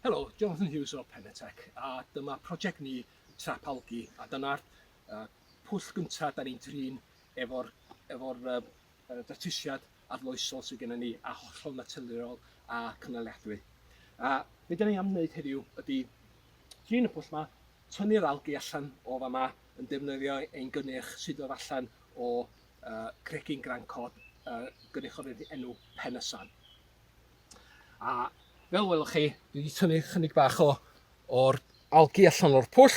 Helo, Jonathan Hughes o Penetech a dyma prosiect ni Trap Algi a dyna'r uh, pwll gyntaf da ni'n trin efo'r efo uh, datrysiad arloesol sydd gennym ni a hollol naturiol a cynaliadwy. A be da ni am wneud heddiw ydy trin y pwll yma, tynnu'r algi allan o fa yma yn defnyddio ein gynnyrch sydd oedd allan o uh, cregyn grancod uh, gynnyrch o'r enw Penysan. A fel welwch chi, dwi wedi tynnu chynig bach o o'r algi allan o'r pwll,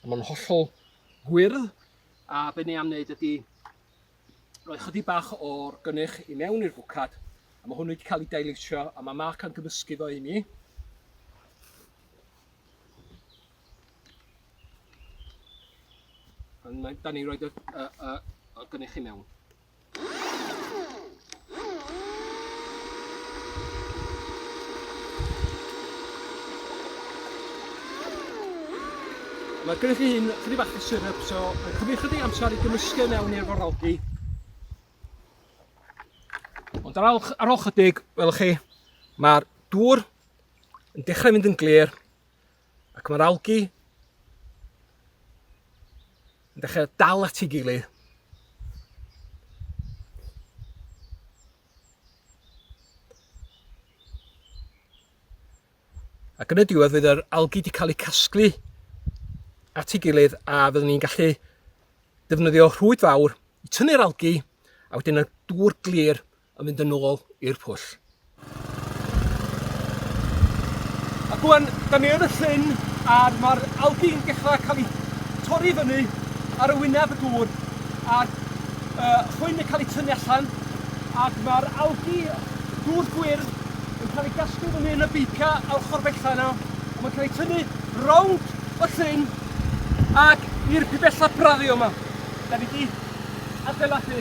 a mae'n hollol gwyrdd, a be ni am wneud ydy rhoi chydig bach o'r gynnyrch i mewn i'r fwcad, a mae hwn wedi cael ei dailysio, a mae Mark yn gymysgu fo i mi. Ond da ni roed y, y, y, y gynnyrch i mewn. Mae gennych chi hyn chydig bach o syrup, so mae'n cymryd chydig amser i gymysgu mewn i'r foralgi. Ond ar ôl, ar ôl chydig, welwch chi, mae'r dŵr yn dechrau mynd yn glir, Ac mae'r algi yn dechrau dal at ei gilydd. Ac yn y diwedd fydd yr algi wedi cael eu casglu at ei gilydd a fyddwn ni'n gallu defnyddio rhwyd fawr i tynnu'r algi a wedyn y dŵr glir a mynd yn ôl i'r pwll. Ac wan, da ni yn y llyn a mae'r algi'n dechrau cael ei torri fyny ar y wyneb y dŵr a'r uh, chwyn yn cael ei tynnu allan ac mae'r algi dŵr gwyrdd yn cael ei gasglu fyny yn y beica a'r chorbella yna a mae'n cael ei tynnu rownd y llyn ac i'r pibella braddio yma. Da ni wedi adeiladu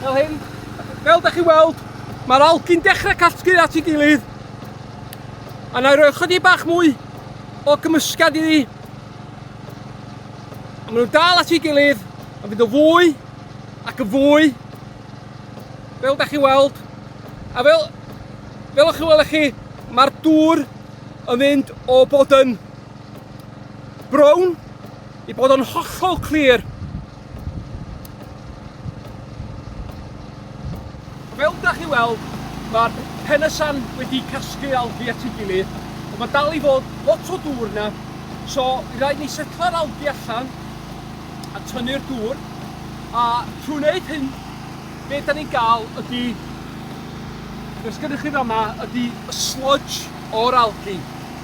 Fel hyn, fel da chi'n weld, mae'r algi'n dechrau casglu at ei gilydd. A na i roi chydig bach mwy o gymysgad iddi. A maen nhw'n dal at ei gilydd, a fydd o fwy ac yn fwy. Fel da chi'n weld, A fel, fel o'ch chi'n weld chi, mae'r dŵr yn mynd o bod yn brown I bod yn hollol clir, fel da chi weld, mae'r penysan wedi casglu algi at ei gilydd, ond mae dal i fod lot o dŵr yna, so i rhaid ni setla'r algi allan a tynnu'r dŵr, a trwy wneud hyn, beth da ni'n gael ydy, beth gennych chi fama, ydy y sludge o'r algi.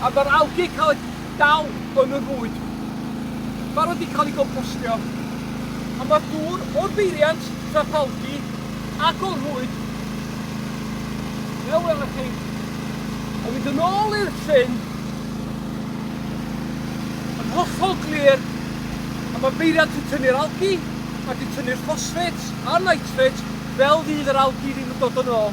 A mae'r algê cael eu dal yn y rwyd. Barod i cael eu gompostio. A mae'r dŵr o'r beiriant, trap algi, ac o'r rhwyd, fel welwch chi, yn mynd yn ôl i'r llyn yn hollol glir a mae beiriant yn tynnu'r algi ac yn tynnu'r ffosffêts a'r nitrates fel fydd yr algi ddim yn dod yn ôl.